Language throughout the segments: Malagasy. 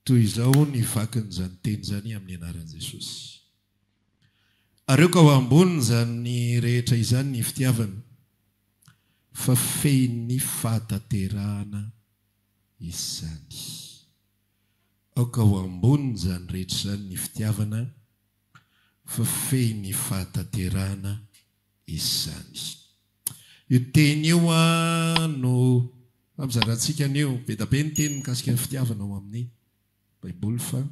Toy izao ny vakin'izany teny izany amin'ny anaran'i Jesosy. Areoko ao ambonin'izany rehetra izany ny fitiavana, fa fehin'ny fahatanterahana izany. Aoka ho ambonin'izany rehetra izany ny fitiavana. fa fehiny ny fahatanterahana izany. Io teny io no hampizarantsika anio. Be dia be ny teny mikasika ny fitiavana ao amin'ny Baiboly fa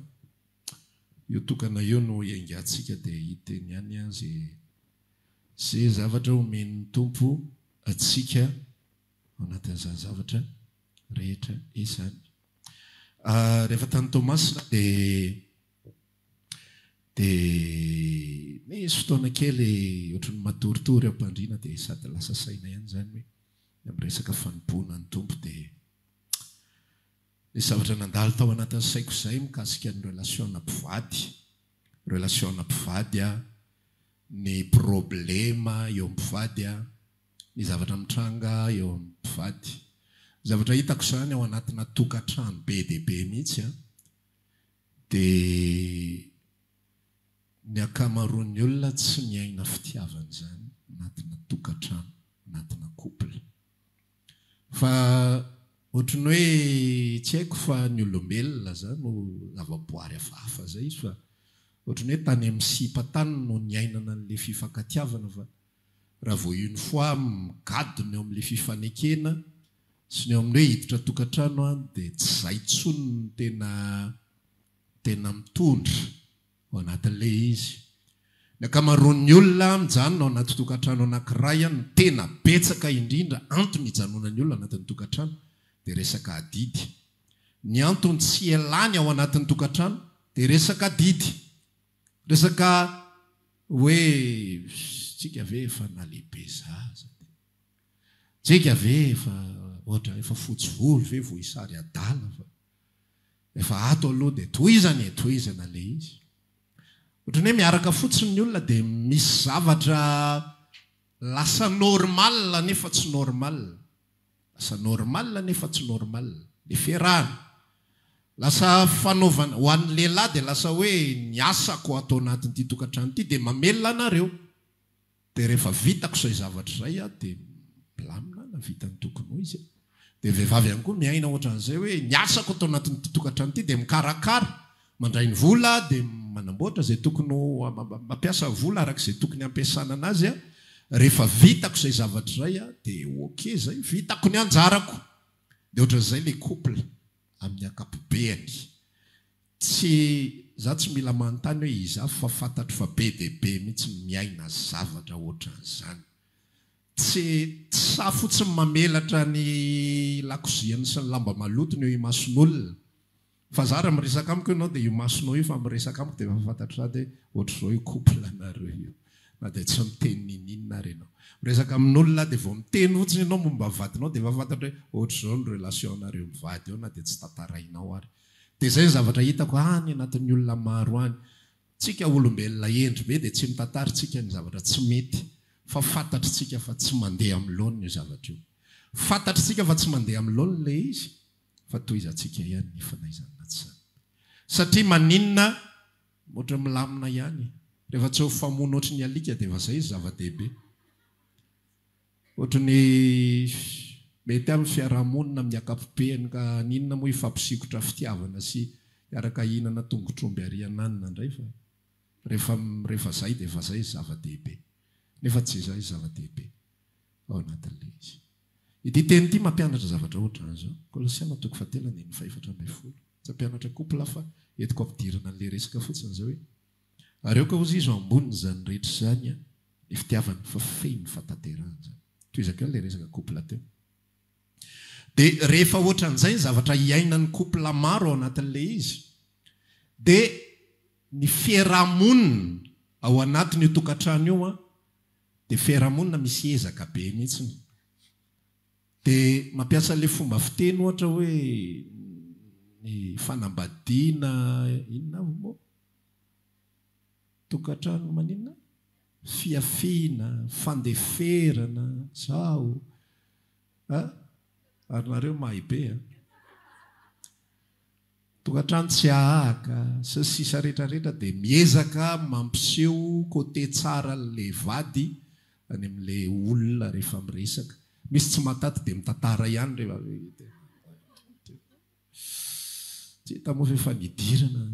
io tokana io no hiaingantsika dia hiteny ihany izay izay zavatra homen'ny Tompo antsika ao anatin'izany zavatra rehetra izany. Rehefa tany Toamasina dia Dia nisy fotoana kely ohatran'ny matoritory am-pandriana dia sady lasa saina ihany izany hoe ny amin'ny resaka fanompoana ny Tompo dia nisy zavatra nandalo tao anatin'ny saiko izay mikasika ny relation-na mpivady, relation-na mpivady an, ny problema eo amin'ny mpivady an, ny zavatra mitranga eo amin'ny mpivady. Zavatra hitako izany ao anatina tokantrano be dia be mihitsy an. Dia ny ankamaroan'ny olona tsy miaina fitiavana izany anatina tokantrano, anatina couple. Fa ohatran'ny hoe tsy haiko fa ny olombelona zah no zavaboary hafahafa zay izy fa ohatran'ny hoe tany amin'ny sipa tany no niainana an'ilay fifankatiavana fa raha vao une fois migadona eo amin'ilay fifanekena sy ny eo amin'ny hoe hiditra tokantrano dia tsy izay intsony no tena tena mitondra ao anatin'ilay izy. Ny ankamaroan'ny olona mijanona ao anaty tokantrano anankiray no tena betsaka indrindra antony hijanonan'ny olona anatin'ny tokantrano dia resaka adidy. Ny antony tsy hialany ao anatin'ny tokantrano dia resaka adidy. Resaka hoe tsika ve efa nalehibe zaza dia tsika ve efa ohatra efa fotsy volo ve vohisary adala fa efa ato aloha dia tohizana e tohizana ilay izy. Ohatran'ny hoe miaraka fotsiny ny olona dia misy zavatra lasa normal nefa tsy normal. Lasa normal nefa tsy normal ny fiarahana. Lasa fanaovana, ho an'ny lehilahy dia lasa hoe ny asako ato anatin'ity tokantrano ity dia mamelona anareo. Dia rehefa vitako izay zavatra izay aho dia milamina aho na vita ny tokony ho izy. Dia vehivavy ihany koa miaina ohatran'izay hoe ny asako ato anatin'ity tokantrano ity dia mikarakara Mandray ny vola dia manamboatra izay tokony ho, mampiasa vola araka izay tokony hampiasana anazy. Rehefa vitako izay zavatra izay dia ok izay, vitako ny anjarako. Dia ohatran'izay ilay couple amin'ny ankapobeany. Tsy, za tsy mila manontany hoe iza fa fantatro fa be dia be mihitsy ny miaina zavatra ohatran'izany. Tsy, tsy sahy fotsiny mamelatra ny lakoziany sy ny lamba malotony eo imason'olona Fa za raha miresaka amiko ianao dia io masonao io fa miresaka amiko dia efa fantatro za dia ohatr'izao io couple nareo io na dia tsy miteny ninininona ary ianao. Miresaka amin'olona aho dia vao miteny fotsiny ianao momba vadinao dia efa fantatro hoe ohatr'izao ny relation anareo mivady eo na dia tsy tantarainao ary. Dia izay ny zavatra hitako any anatin'ny olona maro any. Tsika olombelona hendry be dia tsy mitantara tsika ny zavatra tsy mety fa fantatry tsika fa tsy mandeha amin'ny laoniny io zavatra io. Fantatry tsika fa tsy mandeha amin'ny laoniny ilay izy. fa toa izantsika ihany ny fanaizany na tsa. Satria maninona? Ohatry ny milamina ihany. Rehefa tsy mifamono ohatry ny alika dia efa izay izy zava-dehibe. Ohatry ny mety amin'ny fiaraha-monina amin'ny ankapobeny ka haninona moa hifampisikotra fitiavana sy hiaraka hihinana tongotr'omby ary ananona indray fa rehefa rehefa izay dia efa izay izy zava-dehibe. Nefa tsy izay izy zava-dehibe ao anatin'ilay izy. Ity teny ity mampianatra zavatra ohatr'anzao, Kolosiana toko fahatelo andininy fahefatra ambin'ny folo, tsy hampianatra couple aho fa entiko ampidirana an'ilay resaka fotsiny izao hoe, ary aoka hozy izy ho ambonin'izany rehetra izany an, ny fitiavana fa feno ny fahatanterahana izany. Tohizako ihany ilay resaka couple teo. Dia rehefa ohatran'izay ny zavatra iainan'ny couple maro ao anatin'ilay izy, dia ny fiaraha-monina ao anatin'io tokantrano io an, Dia fiarahamonina misy ezaka be mihitsiny. Dia mampiasa an'ilay fomba fiteny ohatra hoe ny fanambadiana inona avy moa? Tokantrano maninona? Fihafiana, fandeferana, zao a! Ary nareo mahay be a! Tokantrano tsy ahahaka, sy ny sisa rehetra rehetra dia miezaka mampiseho côté tsara an'ilay vady any amin'ilay olona rehefa miresaka. Misy tsy mahataty dia mitantara ihany rehefa vita. Tsy hita moa ve efa nidirana.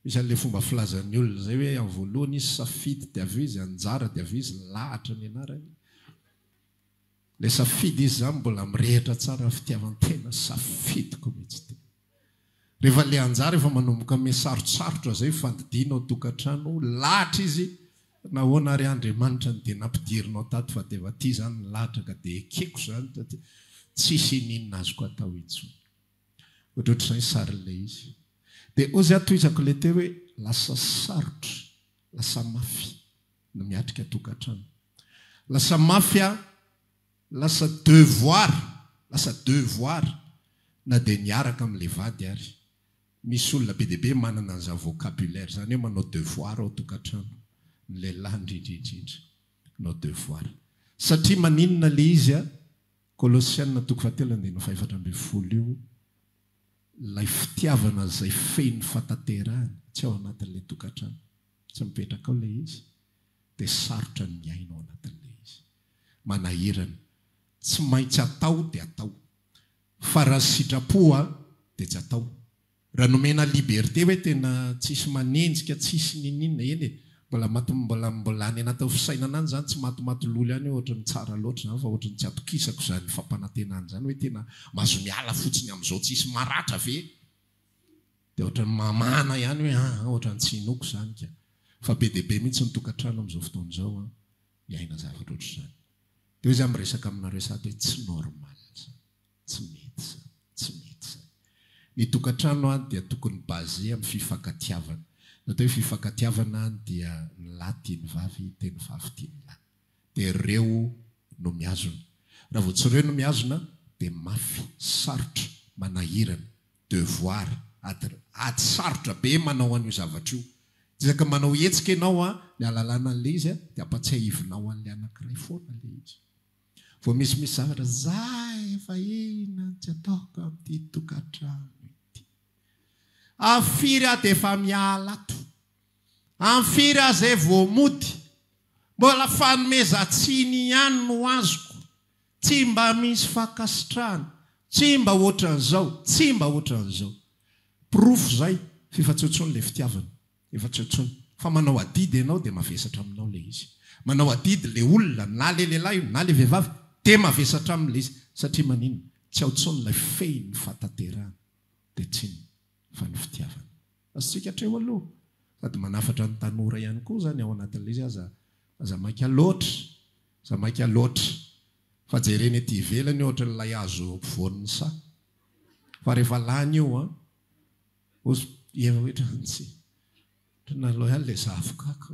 Misy an'ilay fomba filazan'ny olona izay hoe amin'ny voalohany izy safidy dia avy eo izy anjara dia avy eo izy lahatra ny anarany. Le safidy izy zany mbola mirehitra tsara fitiavantena safidiko mitsy ty. Rehefa le anjara efa manomboka me sarotsarotra zay fandidiana ao tokatrano lahatra izy nahoana ary Andriamanitra no de nampidirinao tato fa de efa ty zany ny lahatra ka de ekeko zany taty tsisy ininona azoko atao intsony. Ohatrohatr'izay sarin'le izy. De ozy aho tohizako le teo hoe lasa sarotra, lasa mafy. no miatrika tokantrano. Lasa mafy aho, lasa devoir, lasa devoir na dia niaraka amin'ilay vady ary. Misy olona be dia be manana an'izany vocabulaire izany hoe manao devoir ao tokantrano, ny lehilahy indrindra indrindra, manao devoir. Satria maninona ilay izy an? Kolosiana toko fahatelo andininy fahefatra ambin'ny folo io, ilay fitiavana izay feno fatanterahana tsy ao anatin'ilay tokantrano. Tsy mipetraka ao ilay izy dia sarotra ny miaina ao anatin'ilay izy. Manahirana. Tsy maintsy atao dia atao. Fa raha tsy sitrapo dia tsy atao. Raha nomena liberté hoe tena tsisy manenjika, tsisy niniana, eny e, mbola maty mbola mbola any anatin'ny fisainana any izany, tsy matimaty lolo ihany hoe ohatry ny tsara loatra izany fa ohatry ny tsy atokisako izany fampanantenana izany hoe tena mahazo miala fotsiny amin'izao tsisy maratra ve? Dia ohatran'ny mamana ihany hoe an! an! ohatran'ny tsy inoako izany ka! fa be dia be mihitsy ny tokantrano amin'izao fotoana izao an! miaina zavatra ohatr'izany. Dia hoy izaho miresaka aminareo sahady hoe tsy normal izany, tsy mety izany, tsy mety izany. Ny tokantrano an! dia tokony basé amin'ny fifankatiavana. Ny atao hoe fifankatiavana an! dia ny lahy tia ny vavy dia ny vavy tia ny lahy. Dia ireo no mihazona. Raha vao tsy ireo no mihazona dia mafy, sarotra, manahirana devoir, ady ady sarotra be manao an'io zavatra io. Ezaka manao hetsika ianao a, ny alalana an'ilay izy a, dia ampatsiahivinao an'ilay anankiray foana ilay izy. Vao misy misy zavatra, za efa inona no tsy ataoko amin'ity tokantrano ity. Amin'ny firy aho dia efa miala ato. Amin'ny firy aho izay vao mody. Mbola fanomezan-tsiny ihany no azoko. Tsy mba misy fankasitrahana, tsy mba hoatran'izao, tsy mba hoatran'izao. Porofo izay f'efa tsy eo intsony ilay fitiavana, efa tsy eo intsony. Fa manao adidy ianao dia mavesatra aminao ilay izy. Manao adidy ilay olona, na ilay lehilahy io, na ilay vehivavy, dia mavesatra aminy ilay izy. Satria maninona? Tsy ao intsony ilay fehin'ny fahatanterahana, dia tsinona fa ny fitiavana. Asika hatreo aloha. Sady manafatra ny tanora ihany koa izany ao anatin'ilay izy aza aza maika loatra, aza maika loatra fa jerena ety ivelany ohatra ilay hazo ampovoan'ny saha fa rehefa lany io an, oz eo hoetrany tsy ohatry ny naloy ahy ilay zavoka ko.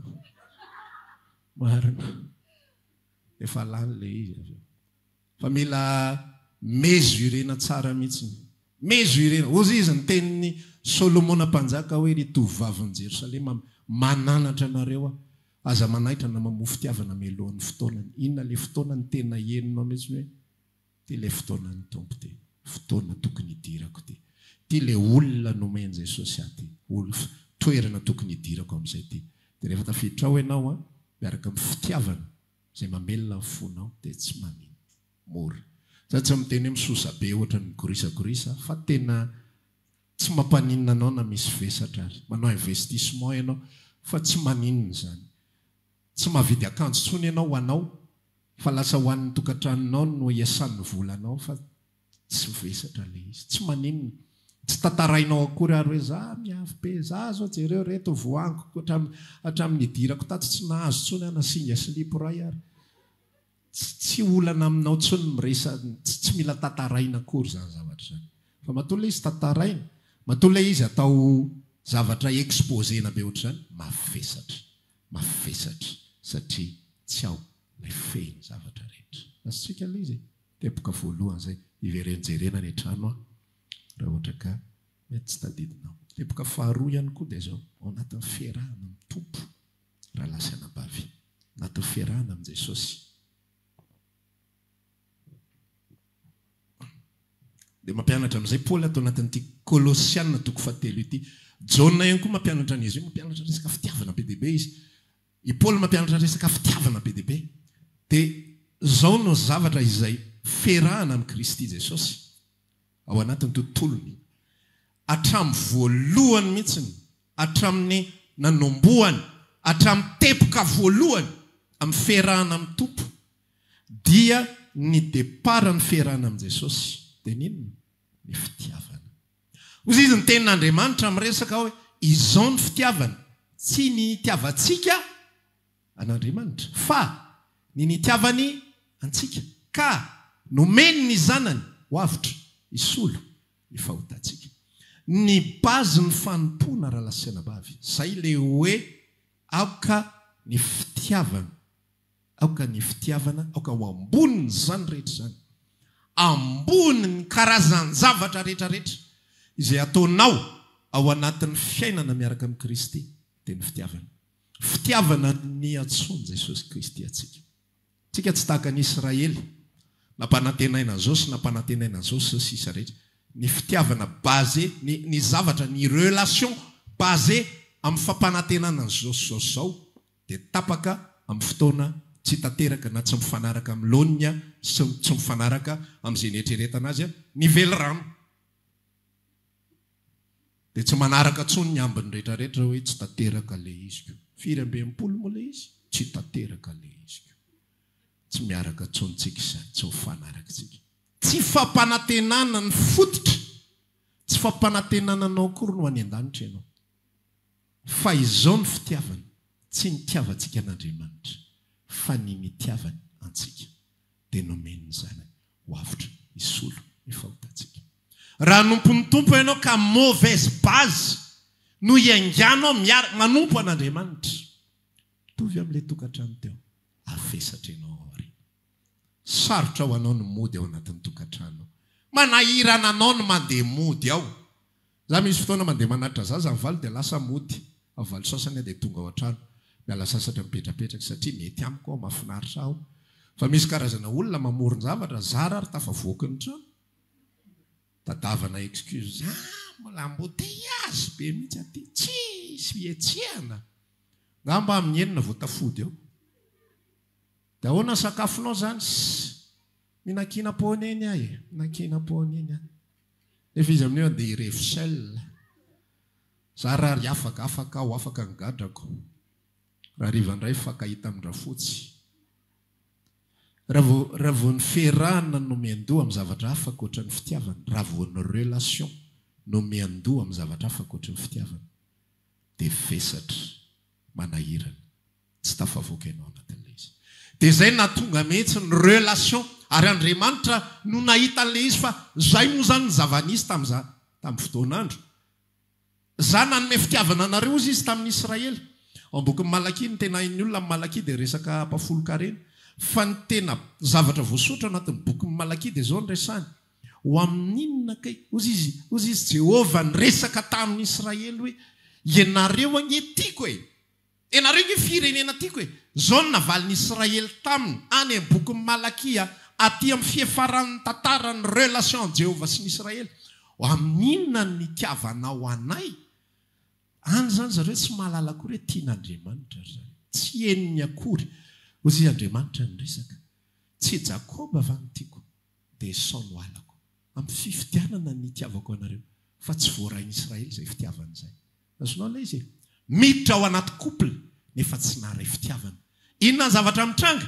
Marina. Efa lany ilay izy avy eo. Fa mila mesurena tsara mihitsiny. Mesurena. Hozy izy ny tenin'i Solomona mpanjaka hoe, Ry tovovavin'i Jerosalema, mananatra anareo aho. Aza manaitra na mamoa fitiavana mialohan'ny fotoanany. Inona ilay fotoana no tena henonao mihitsiny hoe, Ity ilay fotoanan'ny Tompo ity. Fotoana tokony hidirako ity. Ity ilay olona nomen'i Jesosy ahy ity. Toerana tokony hidirako amin'izay ity. Dia rehefa tafiditra ao ianao miaraka amin'ny fitiavana, Izay mamelona ny fonao dia tsy manino mora. Za tsy miteny hoe misosa be ohatrany migorisagorisa fa tena tsy mampaninona anao na misy vesatra ary. Manao investissement ianao fa tsy maninona izany. Tsy mahavidy akanjo intsony ianao ho anao fa lasa ho an'ny tokantranonao no iasan'ny volanao fa Tsy vesatra ilay izy. Tsy maninona. Tsy tantarainao akory ary hoe za miavy be, za zao jereo reto voangiko hatramin'ny hatramin'ny nidirako tato tsy nahazo intsony aho na singa silipo iray ary. Tsy tsy olana aminao intsony ny miresa, tsy tsy mila tantaraina akory izany zavatra izany. Fa matoa ilay izy tantaraina, matoa ilay izy atao zavatra exposer-na be ohatr'izany, mavesatra, mavesatra satria tsy ao ilay fehin'ny zavatra rehetra. Azontsika ilay izy e. Teboka voalohany zay, hiverenjerena ny trano an, raha ohatra ka mety tsy tadidinao. Teboka faharoa ihany koa dia izao, ao anatin'ny fiarahana amin'ny Tompo rahalahy sy anabavy, anatin'ny fiarahana amin'i Jesosy, dia mampianatra amin'izay Paoly ato anatin'ity Kolosiana toko fahatelo ity. Jaona ihany koa mampianatra an'izy io, mampianatra resaka fitiavana be dia be izy. I Paoly mampianatra resaka fitiavana be dia be, dia izao no zavatra izay ferahana amin'i Kristy Jesosy ao anatin'ny tontolony, hatramin'ny voalohany mihitsy, hatramin'ny nanombohany, hatramin'ny teboka voalohany amin'ny fiherahana amin'ny Tompo, dia ny départ-n'ny fiherahana amin'i Jesosy dia ny inona? Ny fitiavana. Hoy izy, Ny Tenin'Andriamanitra miresaka hoe izao ny fitiavana, tsy ny itiavantsika an'Andriamanitra, fa ny nitiavany antsika, ka nomeny ny Zanany ho avotra hisolo ny fahotantsika. Ny base ny fanompoana raha lahy sy anabavy. Izay ilay hoe aoka ny fitiavana. Aoka ny fitiavana, aoka ho ambonin'izany rehetra izany, ambonin'ny karazan-javatra rehetra rehetra, izay ataonao ao anatin'ny fiainana miaraka amin'i Kristy, dia ny fitiavana. Fitiavana niantsoan'i Jesosy Kristy antsika. Isika tsy tahaka ny Israely, nampanantenaina an'izao sy nampanantenaina an'izao, sy ny sisa rehetra. Ny fitiavana basé, ny ny zavatra, ny relation basé amin'ny fampanantenana an'izao sy izao sy izao, dia tapaka amin'ny fotoana tsy tanteraka na tsy mifanaraka amin'ny laoniny sy tsy mifanaraka amin'izay nieritreretana azy ny velirano dia tsy manaraka intsony ny ambiny rehetra rehetra hoe tsy tanteraka ilay iziko firy amby enimpolo moa ilay izy tsy tanteraka ilay iziko tsy miaraka intsony tsika izany tsy mifanaraka tsika tsy fampanantenana ny fototra tsy fampanantenana anao akory no any an-danitra ianao Fa izao ny fitiavana, tsy ny tiavantsika an'Andriamanitra, fa ny nitiavany antsika, dia nomeny ny Zanany ho avotra hisolo ny fahotantsika. Raha hanompo ny Tompo ianao ka mauvaise base no hiainganao miara manompo an'Andriamanitra, mitovy amin'ilay tokantrano teo, afesatra ianao ao aoriana. Sarotra ho anao ny mody ao anatin'ny tokantrano. Manahirana anao ny mandeha mody ao. Izaho misy fotoana mandeha manatitra zaza ny valo dia lasa mody. Ao valo sasany aho dia tonga ao an-trano. Miala sasatra mipetrapetraka satria mety amiko ao, mahafinaritra aho. Fa misy karazana olona mamoron-javatra, zara ary tafavoaka ny trano. Tadavana excuse, ah, mbola embouteillages be mihitsy aty, tsisy fihetsehana. Angamba amin'ny enina vao tafody ao. De ahoana sakafonao zany? Ssy! Minakiana poneny aho e! Minakiana poneny aho. Nefa izy amin'io andeha hirevy sel. Za ra ry afaka, afaka aho, afaka ny gadrako. Rahariva ndray fakahita amin-dRafotsy. Ra vao, ra vao ny fiarahana no miandoha amin'ny zavatra hafa ankoatry ny fitiavana, ra vao ny relation no miandoha amin'ny zavatra hafa ankoatry ny fitiavana, de vesatra. manahirana, tsy tafavoaka ianao anatin'ilay izy. Dia izay nahatonga mihitsy ny relation, ary Andriamanitra no nahita an'ilay izy fa izay moa izany ny zava-nisy tamin'izany, tamin'ny fotoan'andro. Izaho nanome fitiavana anareo, hozy Izy tamin'ny Israely. Ao am-bokin'i Malakia, ny tena hain'ny olona amin'ny Malakia dia resaka mpafolon-karena. Fa ny tena zavatra voasoratra ao anatin'ny bokin'i Malakia dia izao no resahany, Ho amin'inona kay? Hoy izy, hoy izy, Jehovah niresaka tamin'i Israely hoe, Ianareo ange tiako e! Ianareo ange firenena tiako e! Izao no navalin'i Israely taminy, any amin'ny bokin'i Malakia, atỳ amin'ny fiafaran'ny tantaran'ny relation'i Jehovah sy ny Israely, Ho amin'inona ny nitiavanao anay? Any izany ry zareo tsy mahalala akory hoe tian'Andriamanitra ry zareo. Tsy henony akory. Hoy izy, Andriamanitra niresaka. Tsy i Jakoba va no tiako? dia sao no halako. Amin'ny fifidianana ny hitiavako anareo, fa tsy voarain'i Israely izay fitiavana izay. Azonao ilay izy e? Miditra ao anaty couple nefa tsy naharay fitiavana. Inona ny zavatra mitranga?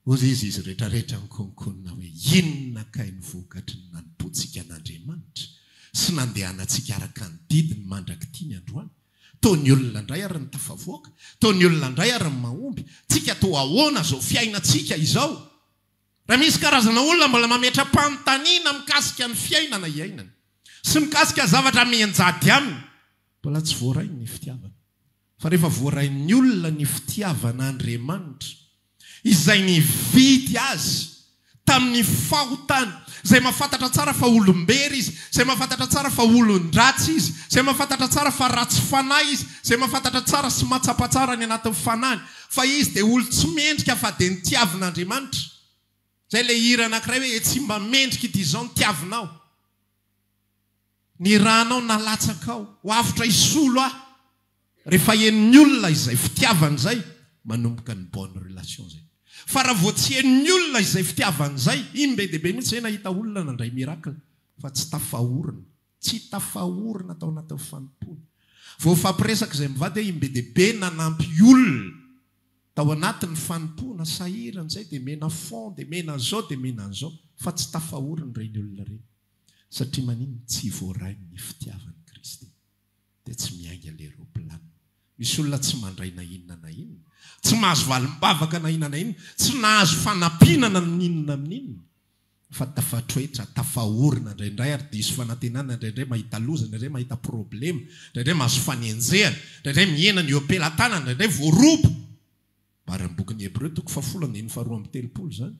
Hoy izy, Izy rehetrarehetra nikononkonona hoe, Inona kay ny vokatry ny nanompoantsika an'Andriamanitra sy nandehanantsika araka ny didiny mandrak'ity ny androany? Toa ny olona indray ary ny tafavoaka, toa ny olona indray ary ny mahomby. Tsika toa ahoana izao fiainantsika izao? Raha misy karazana olona mbola mametra-panontaniana mikasika ny fiainana iainany sy mikasika zavatra mianjady aminy, mbola tsy voarainy ny fitiavana. Fa rehefa voarain'ny olona ny fitiavan'Andriamanitra, Izay nividy azy tamin'ny fahotany, izay mahafantatra tsara fa olom-bery izy, izay mahafantatra tsara fa olon-dratsy izy, izay mahafantatra tsara fa ratsy fanahy izy, izay mahafantatra tsara sy mahatsapa tsara ny anatin'ny fanahiny, Fa izy dia olo tsy mendrika fa dia ny tiavina Andriamanitra. Izay ilay hira anakiray hoe e tsy mba mendrika ity izao ny tiavinao. Ny ranao nalatsakao ho avotra hisolo ahy. Rehefa henon'ny olona izay fitiavany izay manomboka ny bonne relation izay. Fa raha vao tsy henon'ny olona izay fitiavany izay iny be dia be mihitsy izay nahita olona nandray miracle fa tsy tafahorina. Tsy tafaorina tao anatin'ny fanompoana. Vao hifampiresaka izay mivady hoe im-be dia be nanampy olona tao anatin'ny fanompoana, sahirana izay dia mena fond, dia mena an'izao, dia mena an'izao. Fa tsy tafaorina ireny olona ireny. Satria maninona? Tsy voaray ny fitiavan'i Kristy. Dia tsy miainga ilay roplanina. Misy olona tsy mandray na inona na inona. Tsy mahazo valim-bavaka na inona na inona. Tsy nahazo fanampiana na n'inona n'inona. fa tafatroetra, tafaorina indraindray ary diso fanantenana indraindray, mahita loza indraindray, mahita problema indraindray, mahazo fanenjehana indraindray, mihena ny oepelan-tanana indraindray, voaroba. Maro amin'ny bokin'ny Hebreo toko fahafolo andininy faharoa amby telopolo izany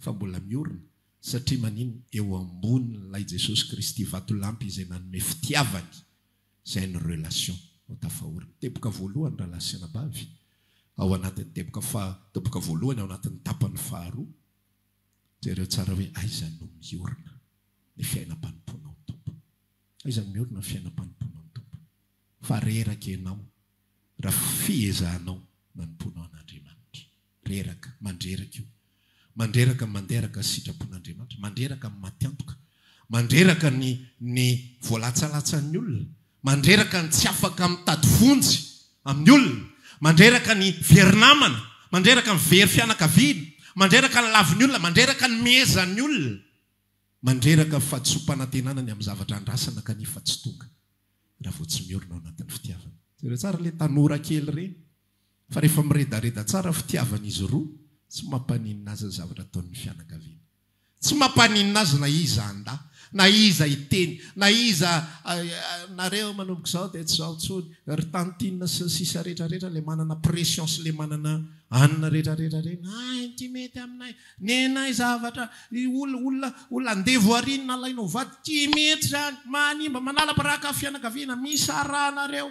fa mbola miorina satria maninona? Eo ambonin'ilay Jesosy Kristy vatolampy izay nanome fitiavany izay any relation no tafaorina. Teboka voalohany rahalahy sy anabavy ao anatin'ny teboka faha, teboka voalohany ao anatin'ny tapany faharoa. Jereo tsara hoe aiza no miorina ny fiainam-panompoana ao Tompo. Aiza no miorina ny fiainam-panompoana ao Tompo. Fa reraka ianao raha fiezahanao manompoana ao an'Andriamanitra. Reraka, mandreraka io. Mandreraka ny mandeha araka ny sitrapon'Andriamanitra. Mandreraka ny maty antoka. Mandreraka ny ny voalatsalatsan'ny olona. mandreraka ny tsy afaka mitady vonjy amin'ny olona, mandreraka ny very namana, mandreraka ny very fianakaviana, mandreraka ny lavon'ny olona, mandreraka ny mehezan'ny olona, mandreraka fahatsoam-panantenana ny amin'ny zavatra andrasana kanefa tsy tonga raha vao tsy miorina ao anatin'ny fitiavana. Jereo tsara ilay tanora kely ireny fa rehefa miredareda tsara fitiavan'izy roa, tsy mampaninona azy ny zavatra ataon'ny fianakaviana. Tsy mampaninona azy na iza handà, na iza hiteny, na iza Nareo manomboka izao dia tsy izao intsony, ry tantine sy ny sisa rehetra rehetra ilay manana pression sy ilay manana anona rehetra rehetra ireny, hay ny ity mety aminay, nenay zavatra, olona olona andevo arỳ no nalaina ho vady, tsy mety izany, manimba, manala baraka fianakaviana, misy arahanareo.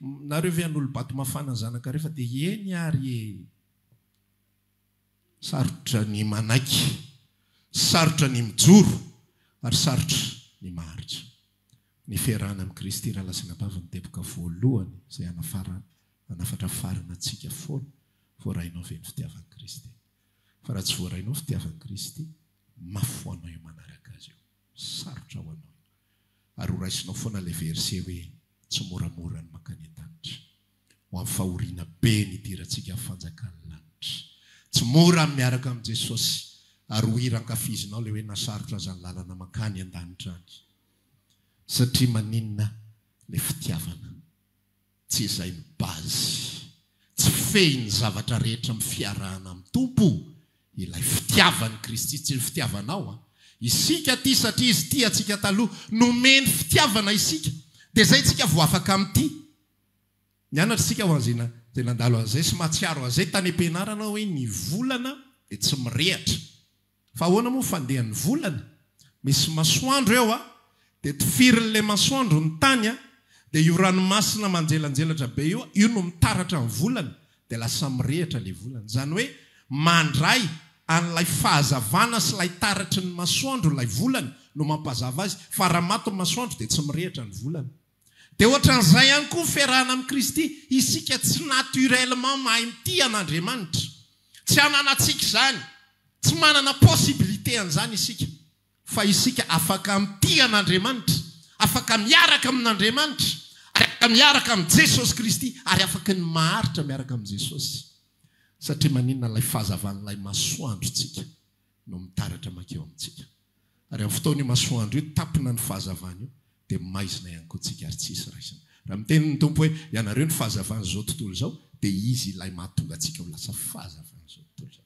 Nareo ve an'olobato mafana zanaka refa de eny ary e! Sarotra ny manaiky, sarotra ny mijoro ary sarotra ny maharitra. Ny fiarahana amin'i Kristy Ralà sy Anabavy no teboka voalohany izay hanafara hanafatra farany antsika foana. Voarainao ve ny fitiavan'i Kristy? Fa raha tsy voarainao fitiavan'i Kristy, mafy ho anao io manaraka Azy io. Sarotra ho anao. Ary horaisinao foana ilay verset hoe tsy moramora ny mankany an-danitra. Ho amin'ny fahoriana be ny hidirantsika amin'ny fanjakan'ny lanitra. Tsy mora ny miaraka amin'i Jesosy. Ary ho hira ankafizinao ilay hoe na sarotra aza ny lalana mankany an-danitra any. Satria maninona ilay fitiavana. Tsy izay no base. Tsy fehin'ny zavatra rehetra amin'ny fiarahana amin'ny Tompo ilay fitiavan'i Kristy, tsy ny fitiavanao an. Isika tia satria Izy tia antsika taloha. Nomeny fitiavana isika, dia izay isika vao afaka mitia. Nianatra isika ho an'izay izay nandalo an'izay sy mahatsiaro an'izay tany am-pianarana hoe ny volana dia tsy mirehatra. Fa ahoana moa fandehan'ny volana? Misy masoandro eo a! Dia tifirin'ilay masoandro ny tany a! Dia io ranomasina manjelanjelatra be io, io no mitaratra ny volana, dia lasa mirehitra ilay volana. Izany hoe mandray an'ilay fahazavana sy ilay taratry ny masoandro ilay volana no mampazava azy, fa raha maty ny masoandro dia tsy mirehitra ny volana. Dia ohatran'izay ihany koa ny fiarahana amin'i Kristy. Isika tsy naturellement mahay mitia an'Andriamanitra. Tsy ananantsika izany. Tsy manana possibilité an'izany isika. Fa isika afaka mitia an'Andriamanitra, afaka miaraka amin'Andriamanitra, afaka miaraka amin'i Jesosy Kristy, ary afaka ny maharitra miaraka amin'i Jesosy. Satria maninona? Ilay fahazavan'ilay masoandro tsika. no mitaratra mankeo amintsika. Ary amin'ny fotoan'io masoandro io tampina ny fahazavana io dia maizina ihany koa tsika ary tsy hisy raisina. Raha miteny ny Tompo hoe ianareo ny fahazavan'izao tontolo izao dia Izy Ilay mahatonga antsika ho lasa fahazavan'izao tontolo izao.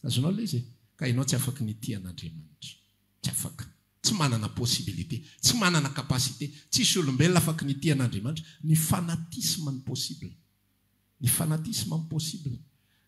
Azonao ilay izy e? Ka ianao tsy afaka ny hitia an'Andriamanitra. Tsy afaka. Tsy manana possibilité. Tsy manana capacité. Tsisy olombelona afaka ny hitia an'Andriamanitra. Ny fanatisme no possible. Ny fanatisme impossible.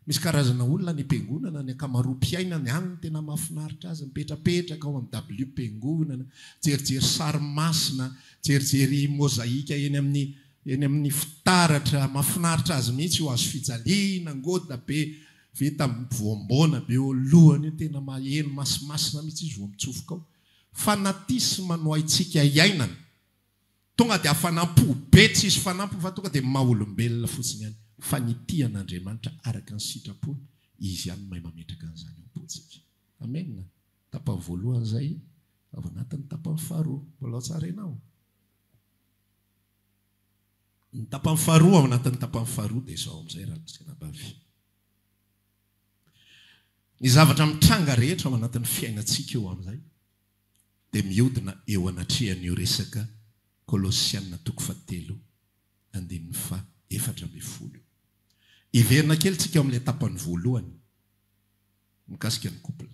Misy karazana olona any am-piangonana, ny ankamaroam-piainany any no tena mahafinaritra azy, mipetrapetraka ao amin'ny WP-mpiangonana, mijerijery sary masina, mijerijery mozaika eny amin'ny eny amin'ny fitaratra, mahafinaritra azy mihitsy io, hazo fijaliana, ngoda be vita voamboana be eo alohany io, tena maheno masimasina mihitsy izy vao mitsofoka ao. Fanatisme no haintsika iainana. Tonga dia fanampo be tsy hisy fanampiny fa tonga dia maha olombelona fotsiny ihany fa ny tia an'Andriamanitra araka ny sitrapony Izy ihany no mahay mametraka an'izany ao am-pontsika. Amena. Tapany voalohany izay ao anatin'ny tapany faharoa. Mbola ao tsara ianao? Ny tapany faharoa ao anatin'ny tapany faharoa dia izao amin'izay Rakoto sy Anabavy. Ny zavatra mitranga rehetra ao anatin'ny fiainantsika eo amin'izay. dia mihodina eo anatrehan'io resaka Kolosiana toko fahatelo andininy faha efatra ambin'ny folo io. Hiverina kely tsika ao amin'ilay tapany voalohany mikasika ny couple.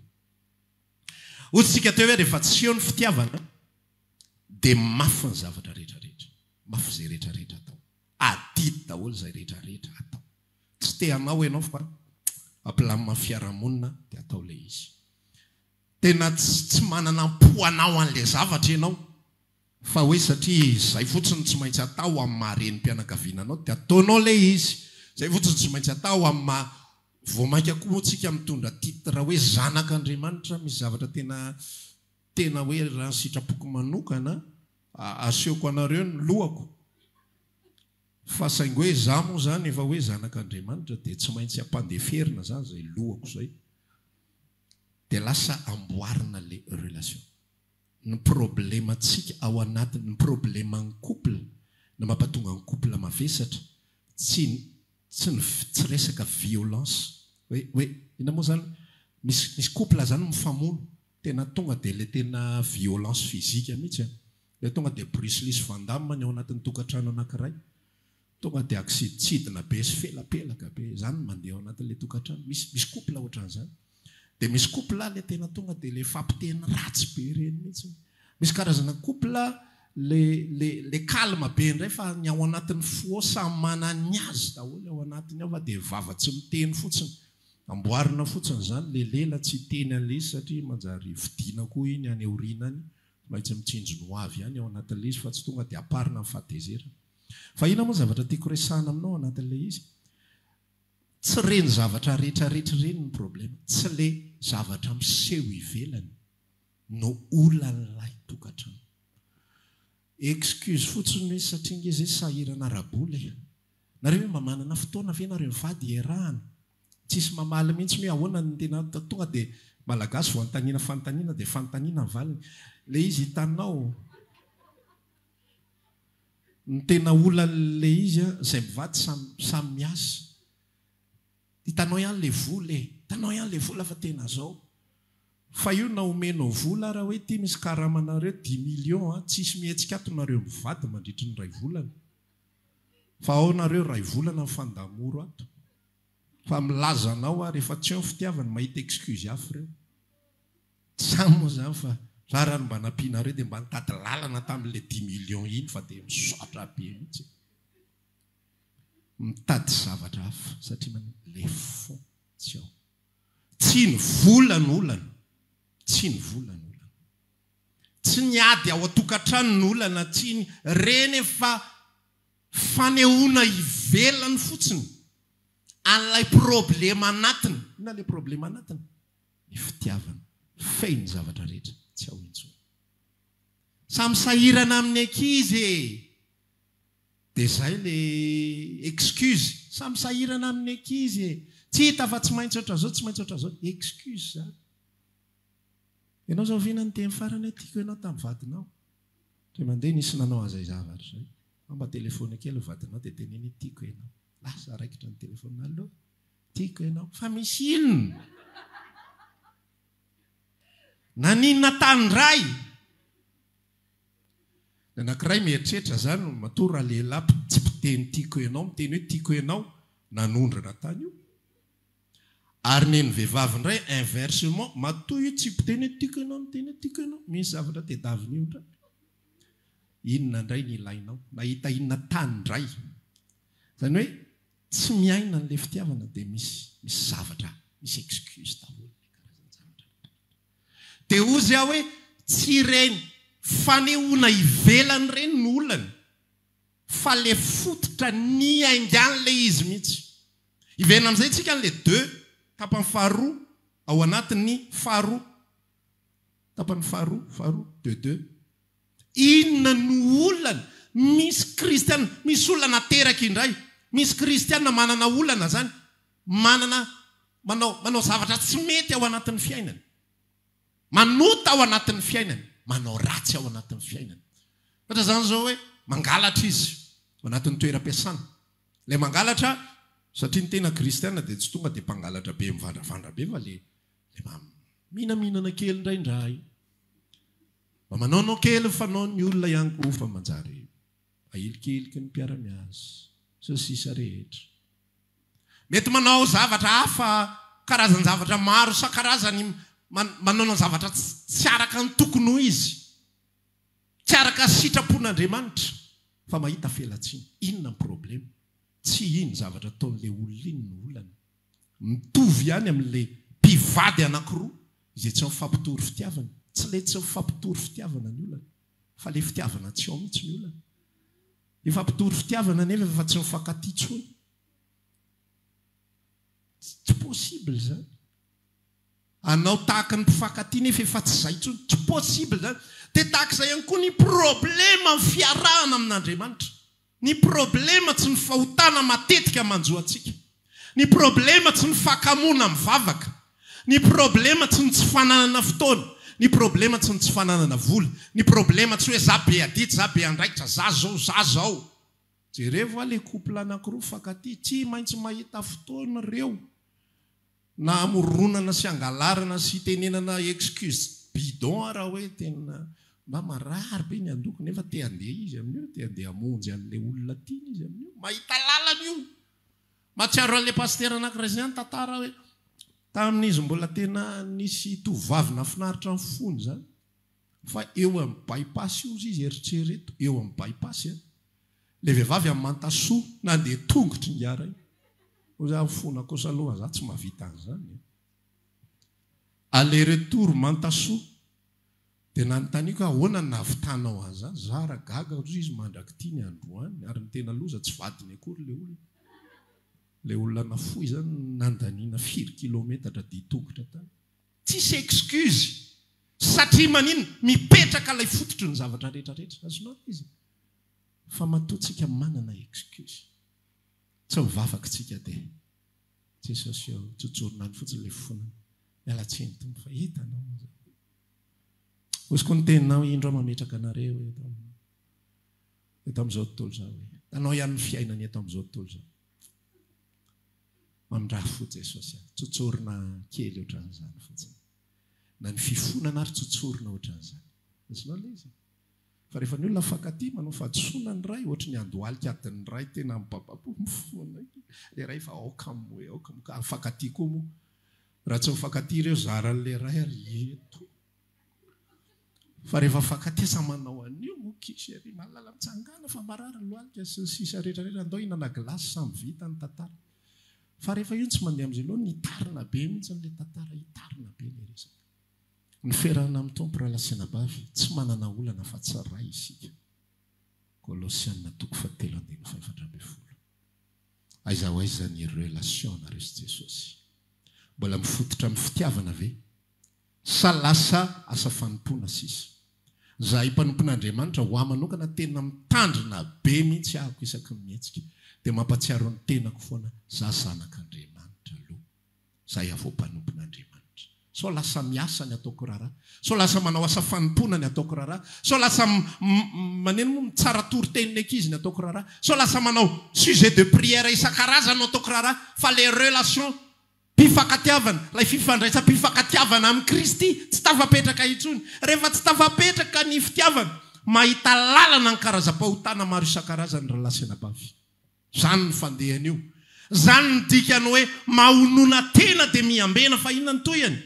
Hoy tsika teo hoe rehefa tsy eo ny fitiavana dia mafy ny zavatra rehetra rehetra, mafy izay rehetra rehetra atao, adidy daholo izay rehetra rehetra atao. Tsy te hanao enao fa ampilamina amin'ny fiarahamonina dia atao ilay izy. Tena tsy tsy manana am-po hanao an'ilay zavatra ianao fa hoe satria izay fotsiny no tsy maintsy atao amin'ny maha renim-pianakaviana anao dia ataonao ilay izy. Izay fotsiny no tsy maintsy atao amin'ny maha, vao mainka koa moa tsika mitondra titre hoe zanak'Andriamanitra, misy zavatra tena tena hoe raha ny sitrapoko manokana, asehoko anareo ny lohako fa saingy hoe izaho moa izany efa hoe zanak'Andriamanitra dia tsy maintsy ampandeferina izany izay lohako izay. dia lasa amboarina le relation. Ny problemantsika ao anatiny, ny probleman'ny couple, ny mampatonga ny couple mavesatra, tsy ny tsy ny tsy resaka violence hoe hoe inona moa izany, misy misy couple izany mifamono tena tonga dia ilay tena violence physique mihitsy an! ilay tonga dia Bruce Lee sy Van Damme ny ao anatin'ny tokantrano anankiray. Tonga dia kisidintsidina be sy felapelaka be, izany no mandeha ao anatin'ilay tokantrano, misy misy couple ohatran'izany, dia misy couple ilay tena tonga dia ilay fampiteny ratsy be ireny mihitsy, misy karazana couple ilay ilay ilay calme be indray fa ny ao anatin'ny foie samy manana ny azy daholo ao anatiny ao fa dia vava tsy miteny fotsiny, amboarina fotsiny izany, ilay lela tsy hiteny an'ilay izy satria manjary vidiana koa iny any aoriana any, tsy maintsy mitsinjony ho avy ihany ao anatin'ilay izy fa tsy tonga dia amparina ny fahatezerana. Fa inona moa ny zavatra tiako resahana aminao anatin'ilay izy? Tsy ireny zavatra retraretra ireny ny problema. Tsy ilay zavatra miseho ivelany no olan'ilay tokantrano. Excuse fotsiny hoe satria nge zay sahirana ara-bola e. Nareo ve mba manana fotoana ve nareo mivady hiarahana? Tsisy mamaly mihitsy ny hoe ahoana ny tena tonga dia Malagasy vao anontaniana fanontaniana dia fanontaniana ny valiny. Ilay izy hitanao. Ny tena olany le izy a zay mivady samy samy miasa hitanao ihany le vola e hitanao ihany le vola fa tena zao fa io na omenao vola ara hoe ity misy karama nareo dix millions a tsisy mihetsika ato nareo mivady mandritry ny ray volana fa ao nareo ray volana mifandamoro ato fa milaza anao ary efa tsy eo ny fitiavany mahita excuse hafa ireo Tsa moa zany fa ra ra ny mba nampianareo de mba nitady lalana tamin'le dimy millions iny fa de misaotra be mitsy e! Mitady zavatra hafa satria manino le fond tsy ao. Tsy ny vola no olana, tsy ny vola no olana. Tsy ny ady ao an-tokantrano no olana, tsy ny reny efa fanehoana ivelany fotsiny an'ilay problema anatiny, inona le problema anatiny? ny fitiavana feno ny zavatra rehetra tsy ao intsony. Samy sahirana amin'ny ankizy e! Dia izay le excuse, samy sahirana amin'ny ankizy e! Tsy hita fa tsy maintsy ohatran'izao, tsy maintsy ohatran'izao. Excuse izany. Ianao izao Vina niteny farany hoe tiako ianao tamin'ny vadinao. Indray mandeha nisy nanao an'izay zavatra izay. Fa mba telefaonina kely ny vadinao dia teneno hoe tiako ianao. Lasa raikitra ny telefaonina. Allo? Tiako ianao. Fa misy inona? Naninona tany ndray? Ny anankiray mieritreritra izany, matoa ralehilahy tsy mpiteny tiako ianao miteny hoe tiako ianao, nanondrana tany io. Ary ny an'ny vehivavy indray inversement, matoa io tsy mpiteny hoe tiako ianao miteny hoe tiako ianao, misy zavatra tedavina eo indray. Inona indray ny ilainao? Nahita inona tany indray? Izany hoe. Tsy miaina anle fitiavana dia misy misy zavatra misy excuse daholo le karazan-javatra rehetra rehetra. Dia ozy aho hoe tsy ireny fanehoana ivelany ireny no olany fa le fototra niainganle izy mihitsy. Hiverina amin'izay tsika anle deux tapany faharoa ao anatin'ny faharoa. Tapany faharoa, faharoa, deux, deux. Inona no olana? Misy kristiana, misy olona nateraka indray. Misy kristiana manana olana izany, manana, manao, manao zavatra tsy mety ao anatin'ny fiainany. Manota ao anatin'ny fiainany, manao ratsy ao anatin'ny fiainany. Ohatra izany izao hoe, mangalatra izy, ao anatin'ny toeram-piasana. Ilay mangalatra, satria ny tena kristiana dia tsy tonga dia mpangalatra be, mivandravandra be, fa ilay Dia mba mihinanmihinana kely indraindray. Mba manaonao kely ny fanaon' ny olona ihany koa fa manjary ahilikiliky ny mpiara-miasa sy ny sisa rehetra. Mety manao zavatra hafa, karazan-javatra maro isan-karazany, manaona zavatra tsy araka ny tokony ho izy, tsy araka sitra-pon' Andriamanitra, fa mahita felatsiana. Inona ny problema? Tsy iny zavatra ataon'ilay olona iny no olana, Mitovy ihany amin'ilay mpivady anankiroa izay tsy mifampitory fitiavana. Tsy ilay tsy mifampitory fitiavana ny olana, fa ilay fitiavana tsy ao mihitsy ny olana. Efa mpitory fitiavana nefa efa tsy mifankatia intsony. Tsy possible izany. Hanao tahaka ny mpifankatia nefa efa tsy izay intsony. Tsy possible izany. Dia tahaka izay ihany koa ny problème amin'ny fiarahana amin'Andriamanitra. Ny problema tsy ny fahotana matetika manjo antsika. Ny problema tsy ny fakamoana mivavaka. Ny problema tsy ny tsy fananana fotoana. Ny problema tsy ny tsy fananana vola. Ny problema tsy hoe za be adidy, za be andraikitra, za zao, za zao. Jerevo a le couple anakiroa mifankatia, tsy maintsy mahita fotoana reo. Na hamoronana sy hangalarana sy hitenenana excuses bidon ara hoe tena mba marary be ny handoko nefa te handeha izy amin'io, te handeha hamonjy an'ilay olona tiany izy amin'io, mahita lalana io! Mahatsiaro an'ilay pasitera anankiray izay nitantara hoe tamin'izy mbola tena nisy tovovavy nahafinaritra ny fony izany, Fa eo amin'ny bypass ozy izy eritrereto eo amin'ny bypass a! Ilay vehivavy amin'ny mantasoa nandeha tongotry ny gara iny. Moa za mifona kosa aloha za tsy mahavita an'izany e! Aller retour mantasoa. Dia nanontaniako hoe ahoana no nahavitanao an'izany? Za ary gaga ozy izy mandrak'ity ny androany ary ny tena loza tsy vadiny akory ilay olona. Ilay olona nafoy izany nandaniana firy kilometatra dia tongotra tany. Tsisy excuse satria maninona? Mipetraka ilay fototry ny zavatra rehetra rehetra. Azonao ve izay? Fa matoa tsika manana excuse. Tsy ho vavaka tsika dia Jesosy eo tsotsorina any fotsiny ilay fonana. Miala tsiny Tompo fa hitanao moa zany. Hosiko ny teninao indro aho mametraka anareo eto amin'ny eto amin'izao tontolo izao hoe, hitanao ihany ny fiainany eto amin'izao tontolo izao. Mandrafo Jesosy aho. Tsotsorina kely ohatran'izany fotsiny. Na ny fifonana ary tsotsorina ohatran'izany. Azonao ilay izy? Fa rehefa ny olona mifankatia, manao fahadisoana ny iray, ohatry ny andohalika adin'ny iray tena mibababo mifona. Ilay iray efa aoka moa e, aoka moa ka mifankatia koa moa. Raha tsy mifankatia ireo zaran'ilay iray ary eto. Fa rehefa fankatesa manao an'io moa kish ery malala mitsangana fa marary ny lohalika sy ny sisa rehetra rehetra andao hinana glace samy vita ny tantara fa rehefa io tsy mandeha amin'izay loha ny hitarina be mihintsy ilay tantara hitarina be ilay resaka niferana amin'ny tompo raha lasenabavy tsy manana olana fa tsy ray isika kolosiana toko fa telo andininy fa efatra ambin'ny folo aiza ho aiza ny relation nareo sy jesosy mbola mifototra amin'ny fitiavana ve Sa lasa asa fanompoana sisa? Zahay mpanompon'Andriamanitra, ho ahy manokana, tena mitandrina be mihitsy ahako isaky ny mihetsika. Dia mampatsiaro ny tenako foana, za zanak'Andriamanitra aloha. Za hiavoha mpanompon'Andriamanitra. Sao lasa miasa ny ataoko raharaha? Sao lasa manao asa fanompoana ny ataoko raharaha? Sao lasa manino moa mitsara toriteny ny ankizy ny ataoko raharaha? Sao lasa manao sujet de prière isan-karazany no ataoko raharaha? Fa les relations Mpifankatiavana, ilay fifandraisam-pifankatiavana amin'i Kristy tsy tafapetraka intsony. Rehefa tsy tafapetraka ny fitiavana, mahita lalana ny karazam-pahotana maro isan-karazany ry lahy sy anabavy. Izany ny fandehany io. Izany ny dikany hoe mahonona tena dia miambena fa inona ny tohiny?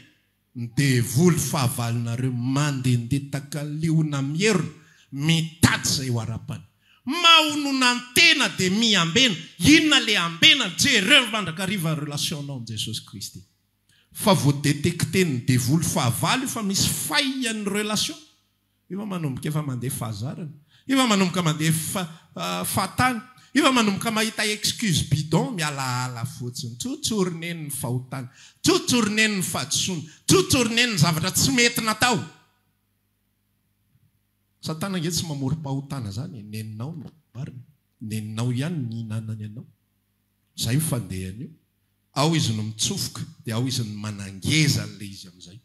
Ny devoly fahavalonareo mandendeha takaliona mierona mitady izay ho arapany. Mahononantena dia miambena, inona le ambenany, jereo mandrakariva ny relation nao amin'i Jesosy Kristy. Fa voadetecter-n'ny devoly fahavalo io fa misy failles ny relation. Io va manomboka efa mandeha fahazarana? Io va manomboka mandeha fahatany? Io va manomboka mahita excuse bidon mialaala fotsiny? Tout tourne ny fahotana, tout tourne ny fahadisoana, tout tourne ny zavatra tsy mety natao. Satana ange tsy mamorom-pahotana zany e, neninao no namboariny, neninao ihany no nihinanany anao. Zay io fandehany io. Ao izy no mitsofoka, dia ao izy no manangeza an'ilay izy amin'izay.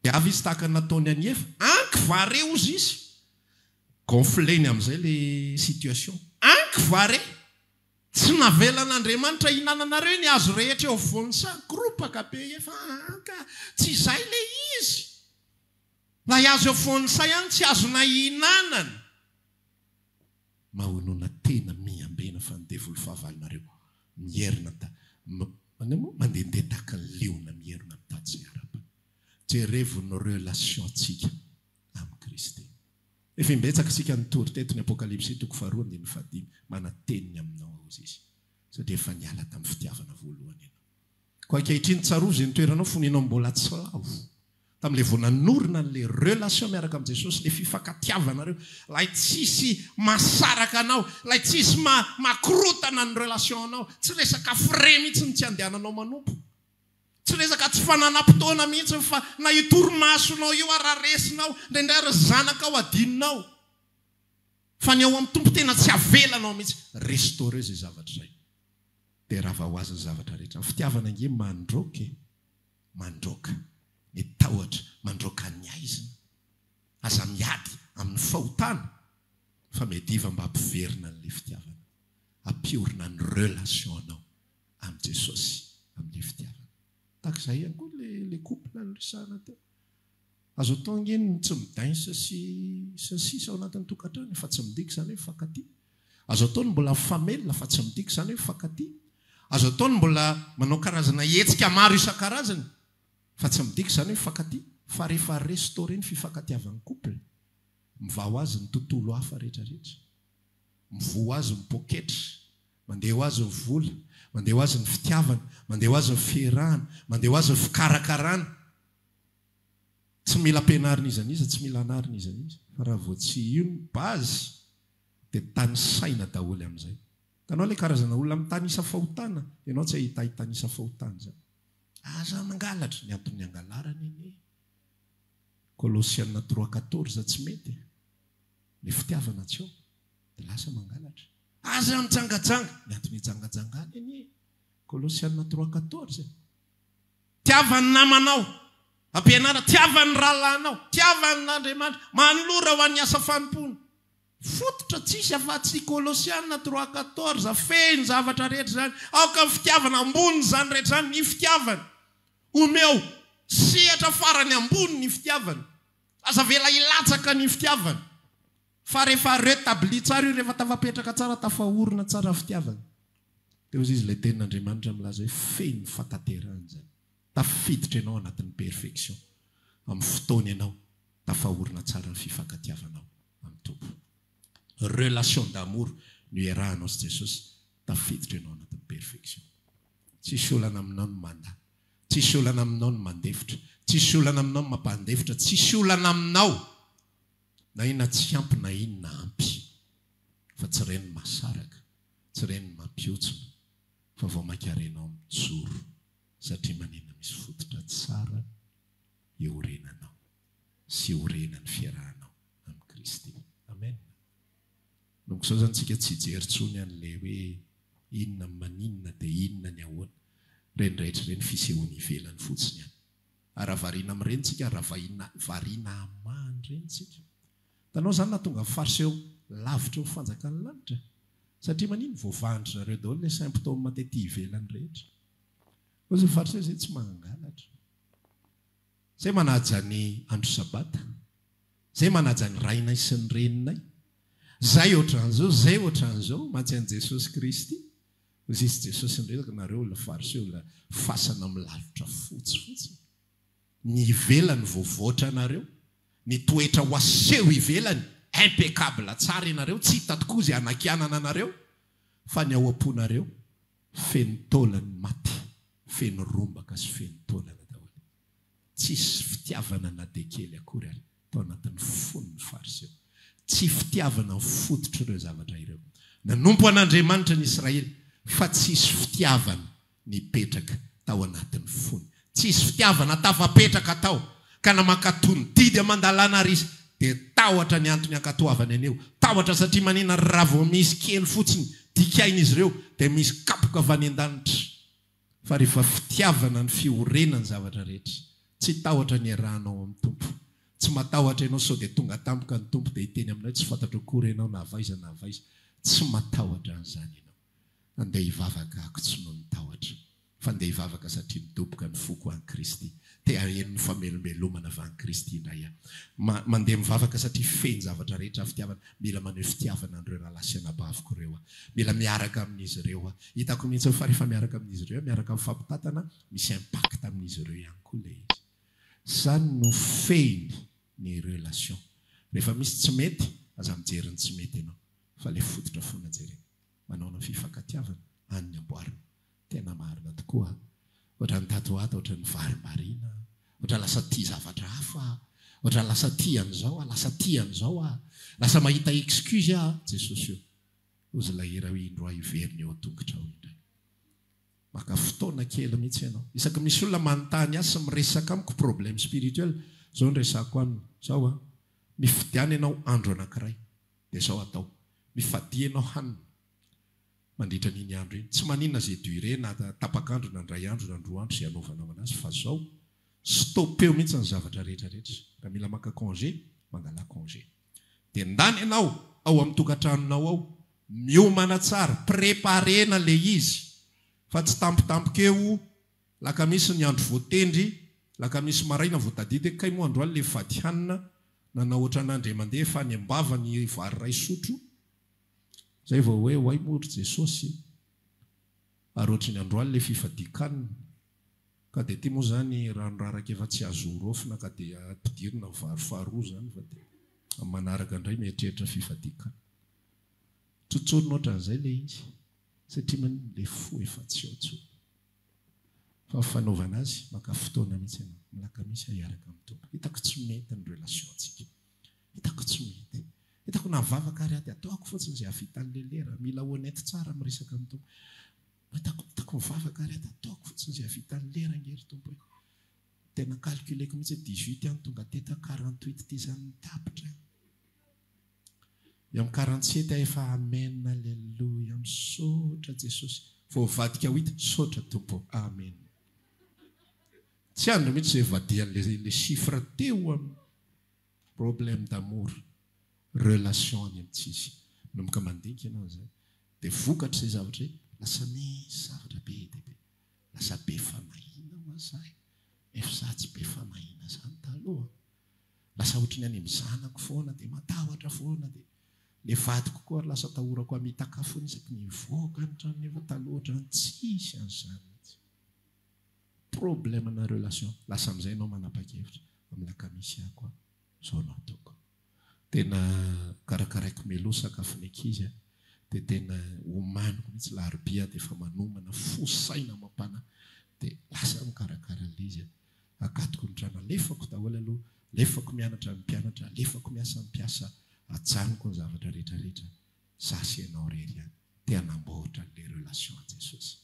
Dia avy izy tahaka ny nataony an'i Efa, anky vare hozy izy. Gonfleny amin'izay ilay situation. Anky vare! Tsy navelan'Andriamanitra hinananareo ny hazo rehetra eo afovoan'ny saha. Koropaka be i Efa, aa ka! Tsy izay ilay izy! Ilay hazo eo afovoan'ny saha ihany tsy azonay ihinanana. Mahonona tena miambena fa ny devoly fahavalonareo mierina ta Mandeha moa mandehandeha tahaka ny liona mierina tatsy araba. Jerevo ny relation tsika amin'i Kristy. Efa imbetsaka isika nitory teto ny Apokalypsy toko faharoa andininy fahadimy, manateny ny aminao aho hozy Izy, satria efa niala tamin'ny fitiavana voalohany ianao. Koa ankehitriny tsarovy izay nitoeranao fony ianao mbola tsy lavo, tamin'ilay vao nanorina an'ilay relation miaraka amin'i Jesosy, ilay fifankatiavanareo, ilay tsisy mahasaraka anao, ilay tsisy makorotana ny relation anao, tsy resaka frais mihitsy ny tsy andehananao manompo, tsy resaka tsy fananam-potoana mihitsy fa na io torimasonao io ary raresinao, indraindray ary ny zanakao adinonao, fa ny ao amin'ny Tompo tena tsy avelanao mihitsy, restaurer izay zavatra izay. Dia rava ho azy ny zavatra rehetra. Ny fitiavana ange mandroaka e! Mandroaka ny tahotra, mandroaka ny haizina. Aza miady amin'ny fahotana fa miadiva mba hampiverina an'ilay fitiavana. Ampiorina ny relation-nao amin'i Jesosy amin'ilay fitiavana. Tahaka izay ihany koa ilay couple niresahana teo. Azo atao ange ny tsy midainsa sy sy ny sisa ao anatin'ny tokantrano fa tsy midika izany hoe mifankatia. Azo atao ny mbola mifamelona fa tsy midika izany hoe mifankatia. Azo atao ny mbola manao karazana hetsika maro isan-karazany fa tsy midika izany hoe mifankatia fa rehefa restaurer ny fifankatiavan'ny couple, mivaha ho azy ny tontolo hafa rehetra rehetra. Mivoha ho azy ny poketra, mandeha ho azy ny vola, mandeha ho azy ny fitiavana, mandeha ho azy ny fierahana, mandeha ho azy ny fikarakarana. Tsy mila ampianarina iza n'iza, tsy mila anarina iza n'iza, fa raha vao tsy io ny base dia tanisaina daholo amin'izay. Hitanao ilay karazana olona mitanisa fahotana, ianao tsy hahita hitanisa fahotana izany. Aza mangalatra, ny anton'ny hangalarana anie, Kolosiana trois quatorze tsy mety e, ilay fitiavana tsy ao, dia lasa mangalatra. Aza mijangajanga, ny anton'ny hijangajangana anie, Kolosiana trois quatorze. Tiava ny namanao. Ampianara, Tiava ny rahalahinao. Tiava an' Andriamanitra. Manolora ho an' ny asa fanompoana. Fototra tsy hisy afa-tsy i Kolosiana trois quatorze. Fehiny zavatra rehetra izany. Aoka ny fitiavana, ambonin' izany rehetra izany, ny fitiavana. Omeo sehatra farany ambony ny fitiavana. Aza avela hilatsaka ny fitiavana. Fa rehefa retabli tsara io, rehefa tafapetraka tsara, tafaorina tsara ny fitiavana. Teo izy ilay tenin' Andriamanitra milaza hoe feno ny fataterana izany. Tafiditra ianao anatin'ny perfection amin'ny fotoana ianao tafahorina tsara ny fifankatiavanao amin'ny Tompo. Relation d'amour no iarahanao sy Jesosy, tafiditra ianao anatin'ny perfection. Tsisy olana aminao ny mandà, tsisy olana aminao ny mandefitra, tsisy olana aminao ny mampandefitra, tsisy olana aminao na inona tsy ampy na inona ampy fa tsy ren'ny mahasaraka. Tsy ren'ny mampihontsona fa vao mainka renao mijoro satria maninona misy fototra tsara iorenanao sy iorenan'ny fiarahanao amin'i Kristy. Amen. Manomboka izao izany tsika tsy hijery tsony an'ilay hoe inona ny maninona dia inona ny ahoana. Ireny rehetra ireny fisehoana ivelany fotsiny ihany. Ary raha variana amin'ireny tsika, raha variana hamaha an'ireny tsika, Hitanao izany nahatonga farce eo lavitra eo fanjakan'ny lanitra e! Satria manino? Voavahan-dry zareo daholo ilay symptômes tety ivelany rehetra. Koa izay farce izay tsy mangalatra. Izay manaja ny andro sabata. Izay manaja ny rainay sy ny reninay. Izay ohatran'izao, izay ohatran'izao. Mantsy an'i Jesosy Kristy. Hoy Zisy Jesosy ny resaka, nareo olona farce olona fasana milalotra fotsy fotsiny. Ny ivelany voavoatra anareo. Ny toetra ho aseho ivelany impeccable tsara ianareo tsy hita tokoa izay hanakianana anareo fa ny ao am-ponareo feno taolan'ny maty, feno rombaka sy feno taolana daholo. Tsisy fitiavana na dia kely akory ary tao anatin'ny fon'ny Fariseo. Tsy fitiavana ny fototr'ireo zavatra ireo. Nanompo an'Andriamanitra ny Israely fa tsisy fitiavana nipetraka tao anatin'ny fony. Tsy hisy fitiavana tafapetraka tao, ka na mankatò ny didy aman-dalàna ary izy, dia tahotra ny antony ankatoavany anio. Tahotra satria manina ry raha vao misy kely fotsiny dikain'izy ireo, dia misy kapoka avy any an-danitra. Fa rehefa fitiavana ny fiorenany ny zavatra rehetra. Tsy tahotra ny iarahanao amin'ny Tompo. Tsy matahotra ianao sao dia tonga tampoka ny Tompo dia hiteny aminao hoe tsy fantatro akory ianao na avaiza na avaiza. Tsy matahotra an'izany ianao. Andeha hivavaka ako tsy noho ny tahotra, fa andeha hivavaka satria midoboka ny foko any Kristy. Te haheno ny famelombelomana avy any Kristy indray aho. Ma, mandeha mivavaka satria feno zavatra rehetra aho fitiavana. Mila maneho fitiavana an'ireo rahalahy sy anabaviko ireo aho. Mila miaraka amin'izy ireo aho. Hitako mihitsy fa rehefa miaraka amin'izy ireo aho, miaraka amin'ny fampitantana, misy impact amin'izy ireo ihany koa ilay izy. Izany no fehiny ny relation. Rehefa misy tsy mety, aza mijery ny tsy mety ianao. Fa le fototra fona jere. Manaona fifankatiavana any ny amboarina. Tena marina tokoa a. Ohatran ny tato ho ato ohatran ny vary marina. Ohatran lasa tia zavatra hafa aho. Ohatran lasa tia an zao aho, lasa tia an zao aho. Lasa mahita excuse aho. Jesosy o. Ozy ilay hira hoe indroa hiverina eo an-tongotra ao indray. Maka fotoana kely mihitsy ianao. Isaky misy olona manontany ahy sy miresaka amiko problème spirituel, zao no resahako aminy. Zao a. Mifidiana ianao andro anankiray. Dia izao atao, mifadia ianao hanina mandritra an'iny andro iny. Tsy maninona izay durée na tapak'andro na indray andro na indroa andro izay hanaovanao an'azy fa izao, stopeo mihitsy ny zavatra rehetra rehetra. Raha mila maka congé, mangalà congé. Dia ndany ianao ao amin'ny tokantranonao ao, miomana tsara, préparer-na ilay izy fa tsy tampotampoka eo, Lakamisy ny andro voatendry, lakamisy maraina vao tadidy hoe kay moa androany ilay fady hanina, nanao ohatran' andry aman-dia efa any am-bava ny vary iray sotro, izay vao hoe oay moa ry Jesosy ary ohatry ny androany ilay fifadian-kanina, ka dia ity moa izany rano raraka efa tsy azo horaofina ka dia ampidirina vary faharoa izany fa dia amin'ny manaraka indray mieritreritra fifadian-kanina. Tsotsorina ohatran'izay ilay izy. Satria man le fo efa tsy ao tsony. Fa ny fanaovana azy maka fotoana mihitsy ianao. Milaka mihitsy aho hiaraka amin'ny Tompo. Hitako tsy mety ny relation tsika. Hitako tsy mety. Hitako na vavaka ary aho dia ataoko fotsiny izay havitan'i Lelera. Mila honnête tsara miresaka amin'ny Tompo. Hitako hitako mivavaka ary aho dia ataoko fotsiny izay havitan'i Lera ange ry Tompo e. Tena calculeko mihitsy hoe dix-huit ans no tonga teto aho, quarante-huit ty izany no tapitra. Ny amin'ny karantseta efa amen aleloia misaotra jesosy voavadika ho hita misaotra tompo amen tsy andry mihitsy zay vadihan'le le chiffre teo amin'ny problème d'amour relation any amin'ny tsisy manomboka mandinika ianao zay de vokatr'izay zavatra zay lasa misy zavatra be dia be lasa be fanahiana ho'a zahay nefa za tsy be fanahiana zany taloha Lasa ohatry ny any amin'ny zanako foana dia matahotra foana dia ny vadiko koa ary lasa atahorako hamitaka foana isaky ny hivoaka ny trano nefa taloha ohatry ny tsisy an'izany mihitsy. Problème na relation. Lasa amin'izay ianao manapa-kevitra amin'ny lakamisy ahy koa izao no ataoko. Tena karakaraiko Melo sakafo ny ankizy a, dia tena omaniko mihitsy larobia aho dia efa manomana fo saina amam-panahy dia lasa aho mikarakara an'ilay izy a. Akatoko ny drano alefako daholo aloha, alefako mianatra ny mpianatra, alefako miasa ny mpiasa, ajanoko ny zavatra rehetra rehetra, za sy ianao irery ihany. Te hanamboatra an'ilay relation Jesosy.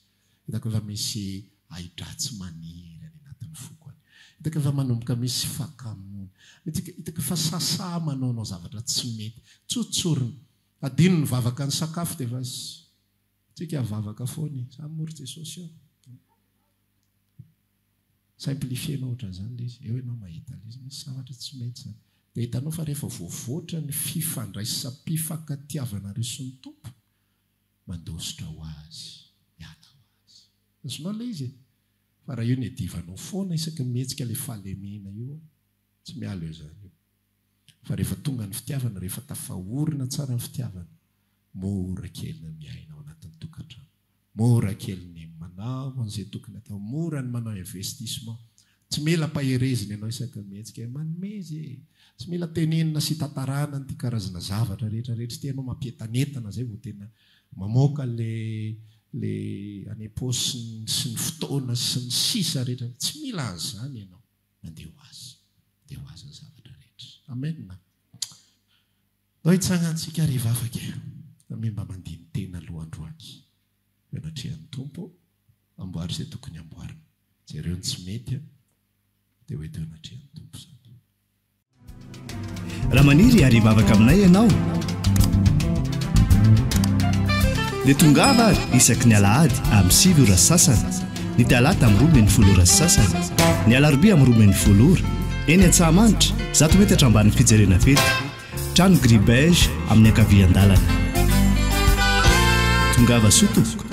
Hitako efa misy ahidratsy maniry any anatin'ny foko any. Hitako efa manomboka misy fakamoana. Hitako, hitako efa sasa manaonao zavatra tsy mety. Tsotsorina. Adino ny vavaka ny sakafo dia efa tsika vavaka foana e. Za moa ry Jesosy eo. Tsy haiko le feno ohatra zany le izy, eo enao mahita le izy, misy zavatra tsy mety zany. De hitanao fa rehefa voavoatra ny fifandraisam-pifankatiavanareo sy ny Tompo, mandositra ho Azy, miala ho Azy. Azonao le izy e! Fa raha io no iadivanao foana isaky ny mihetsika le fahalemena io, tsy miala eo zany io. Fa rehefa tonga ny fitiavana, rehefa tafaorina tsara ny fitiavana, mora kely ny miaina ao anatin'ny tokantrano, mora kely ny manao an'izay tokony atao, mora ny manao investissement. Tsy mila ampaherezina ianao isaky ny mihetsika hoe manome izy e! Tsy mila tenenina sy tantarana an'ity karazana zavatra rehetra rehetra ity ianao, mampientanentana izay vao tena mamoaka ilay ilay any am-paosiny sy ny fotoana sy ny sisa rehetra. Tsy mila an'izany ianao. na dia ho azy dia ho azy ny zavatra rehetra. Amen. Nao hitsangantsika ary hivavaka amy mba mandini-tena aloha androany eo anatrehan'ny Tompo, amboary izay tokony amboarina. Jereo ny tsy mety dia ho eto eo anatrehan'ny Tompo izany. Raha maniry hiary hivavaka aminay ianao, dia tongava ary isaky ny alahady amin'ny sivy ora sasany, ny talata amin'ny roa ambin'ny folo ora sasany, ny alarobia amin'ny roa ambin'ny folo ora, eny Antsahamanitra, zato metatra ambanin'ny fijerena fety, trano gris beige amin'ny ankavian-dalana. Tongava soa tompoko.